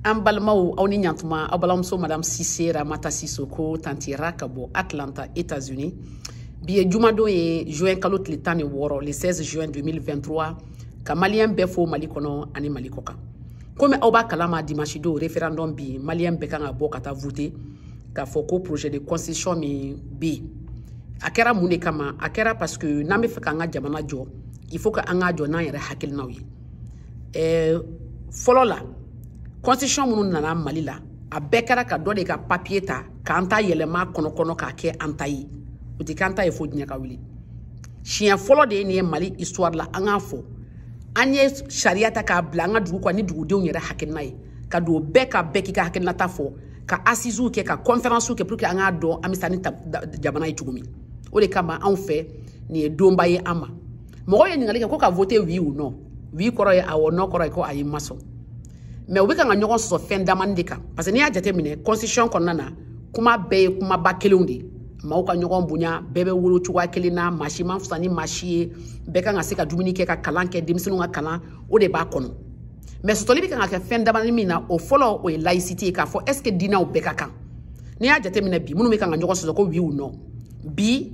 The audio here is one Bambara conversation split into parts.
an balimaw aw ni ɲantuma aw balimamuso madame sise ramata sisoko tantira ka bɔ atlanta états unis bi ye jumadon ye juin kalo tile tan ni wɔɔrɔ le 16 juin 2023 ka maliyɛn bɛɛ fo mali kɔnɔ ani mali kɔkan komi aw b'a kalama dimanche don référendum bi maliyɛn bɛɛ kan ka bɔ ka taa vote k'a fɔ ko projet de constitution min bɛ yen a kɛra mun de kama a kɛra parce que n'an bɛ fɛ k'an ka jamana jɔ il faut que an k'a jɔ n'an yɛrɛ hakilinaw ye ɛɛ fɔlɔ la constitution minnu nana mali la a bɛɛ kɛra ka dɔ de ka papier ta k'an ta yɛlɛma kɔnɔ kɔnɔ k'a kɛ an ta ye o tɛ k'an ta ye fo diɲɛ ka wuli siɲɛ fɔlɔ de ye nin ye mali histoire la an k'a fɔ an ye sariya ta k'a bila an ka dugu kan ni dugudenw yɛrɛ hakilina ye ka don bɛɛ ka bɛɛ k'i ka hakilinata fɔ ka asiziw kɛ ka kɔnfɛransiw kɛ pour que an k'a dɔn an bɛ taa ni jamana ye cogo min o de kama anw fɛ nin ye donba ye an ma mɔgɔw ye ɲininkali kɛ ko ka vote oui ou non oui kɔrɔ ye awɔ non kɔrɔ ye ko ayi ma sɔn mais u bɛ kan ka ɲɔgɔn sɔsɔ fɛn damani de kan parce que n'i y'a jateminɛ constitution kɔnɔna na kuma bɛɛ ye kumaba kelenw de ye maaw ka ɲɔgɔn bonya bɛɛ bɛ wolo cogoya kelen na maa si ma fisa ni maa si ye bɛɛ kan ka se ka dumuni kɛ ka kalan kɛ denmisɛnninw ka kalan o de b'a kɔnɔ mais sɔsɔli bɛ kan ka kɛ fɛn damani min na o fɔlɔ o ye laïcité ye k'a fɔ est ce que diinɛw bɛɛ ka kan n'i y'a jateminɛ bi minnu bɛ kan ka ɲɔgɔn sɔsɔ ko oui ou non bi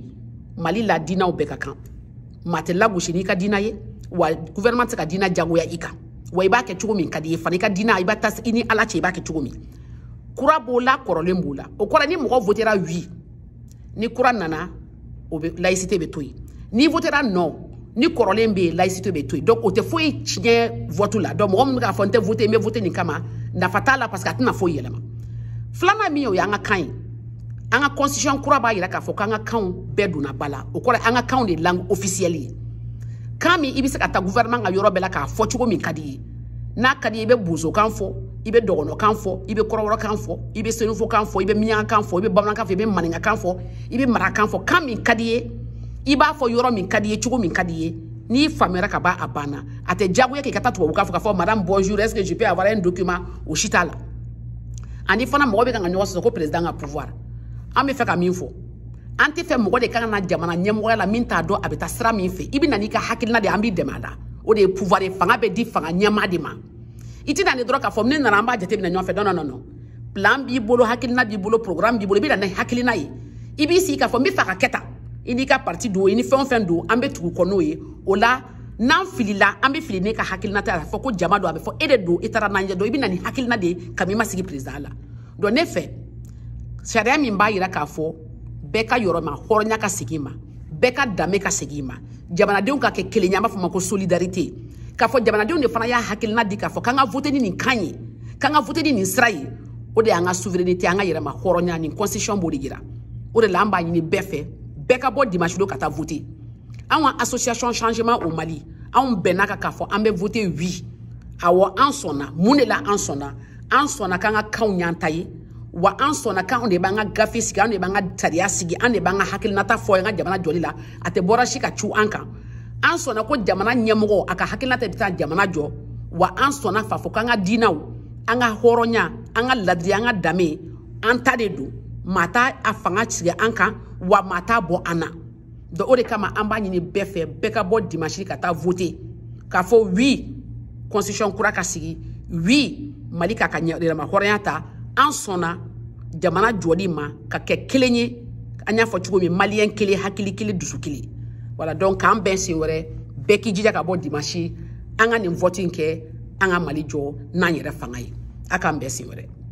mali la diinaw bɛɛ ka kan maa tɛ lagosi n'i ka diina ye wa gouvernement tɛ se ka diina jagoya i kan wa i b'a kɛ cogo min ka di ye fana i ka diina i b'a ta i ni ala cɛ i b'a kɛ cogo min kura b'o la kɔrɔlen b'o la o kɔrɔ ni mɔgɔ votera oui ni kura nana o bɛ laïcité bɛ to yen n'i votera non ni kɔrɔlen bɛ yen laïcité bɛ to yen donc o tɛ foyi tiɲɛ vote la donc mɔgɔ min bɛ k'a fɔ n tɛ vote n bɛ vote nin kama nafa t'a la parce que a tɛna foyi yɛlɛma filanan min ye o y'an ka kan ye an ka constitution kura b'a yira k'a fɔ k'an ka kanw bɛɛ donna ba la o kɔrɔ an ka kanw de langue officielle ye kan min i bɛ se ka taa gouvernement ka yɔrɔ bɛɛ la k'a fɔ cogo min ka di ye n'a ka di ye i bɛ bozokan fɔ i bɛ dɔgɔnɔkan fɔ i bɛ kɔrɔbɔrɔkan fɔ i bɛ senufokan fɔ i bɛ miyankan fɔ i bɛ bamanankan fɔ i bɛ maninkakan fɔ i bɛ marakan fɔ kan min ka di ye i b'a fɔ yɔrɔ min ka di ye cogo min ka di ye n'i faamuyara ka ban a banna a tɛ diyagoya k'i ka taa tubabukan fɔ k'a fɔ madame bonjour est ce que je peux avoir un document o si t'a la ani fana mɔgɔ bɛ kan ka ɲɔgɔn sɔsɔ ko président ka pouvoir an bɛ fɛ ka min fɔ an tɛ fɛ mɔgɔ de ka na jamana ɲɛmɔgɔya la min t'a dɔn a bɛ taa sira min fɛ i bɛ na n'i ka hakilina de an b'i dɛmɛ a la o de ye pouvoir ye fanga bɛ di fanga ɲɛmaa de ma i tɛ na ni dɔrɔn k'a fɔ ne nana an b'a jateminɛ ɲɔgɔn fɛ non non non plan b'i bolo hakilina b'i bolo programme b'i bolo i bɛ na ni hakilina ye i b'i sigi k'a fɔ n bɛ fɛ ka kɛ tan i n'i ka parti don i ni fɛn o fɛn don an bɛ tugu kɔ n'o ye o la n'an filila an bɛ fili ne ka hakilina tɛ a fɔ ko jama don a bɛ fɔ e de don i taara n'an ye donc i bɛ na ni hakilina de ye kabini i ma sigi perezidan la donc ne fɛ sariya min b'a yira k'a fɔ bɛɛ ka yɛrɛma hɔrɔnya ka segin ma bɛɛ ka danbe ka segin ma jamanadenw ka kɛ kelen ye an b'a fɔ ma ko solidarité k'a fɔ jamanadenw de fana y'a hakilina di k'a fɔ k'an ka vote ni nin kan ye k'an ka vote ni nin sira ye o de y'an ka souveraineté an ka yɛrɛma hɔrɔnya nin constitution b'o de yira o de la an b'a ɲini bɛɛ fɛ bɛɛ ka bɔ dimanche don ka taa vote anw ka association changement au mali anw bɛnna a kan k'a fɔ an bɛ vote oui awɔ an sɔnna mun de la an sɔnna an sɔnna k'an ka kanw y'an ta ye wa an sɔnna k'anw de b'an ka gafe sigi anw de b'an ka sariya sigi an de b'an ka hakilinata fɔ an ka jamana jɔli la a tɛ bɔ yɔrɔ si ka cun an kan an sɔnna ko jamana ɲɛmɔgɔ a ka hakilinata bɛ taa jamana jɔ wa an sɔnna k'a fɔ k'an ka diinaw an ka hɔrɔnya an ka ladiri an ka danbe an ta de don maa t'a fanga sigi an kan wa maa t'a bɔ an na donc o de kama an b'a ɲini bɛɛ fɛ bɛɛ ka bɔ dimanche ka taa vote k'a fɔ oui constitution kura ka sigi oui mali k'a ka yɛrɛma hɔrɔnya ta an sɔnna jamana jɔli ma ka kɛ kelen ye an y'a fɔ cogo min maliyɛn kelen hakili kelen dusu kelen voilà donc k'an bɛn sen wɛrɛ bɛɛ k'i jija ka bɔ dimansi an ka nin vɔti in kɛ an ka mali jɔ n'an yɛrɛ fanga ye a k'an bɛn sen wɛrɛ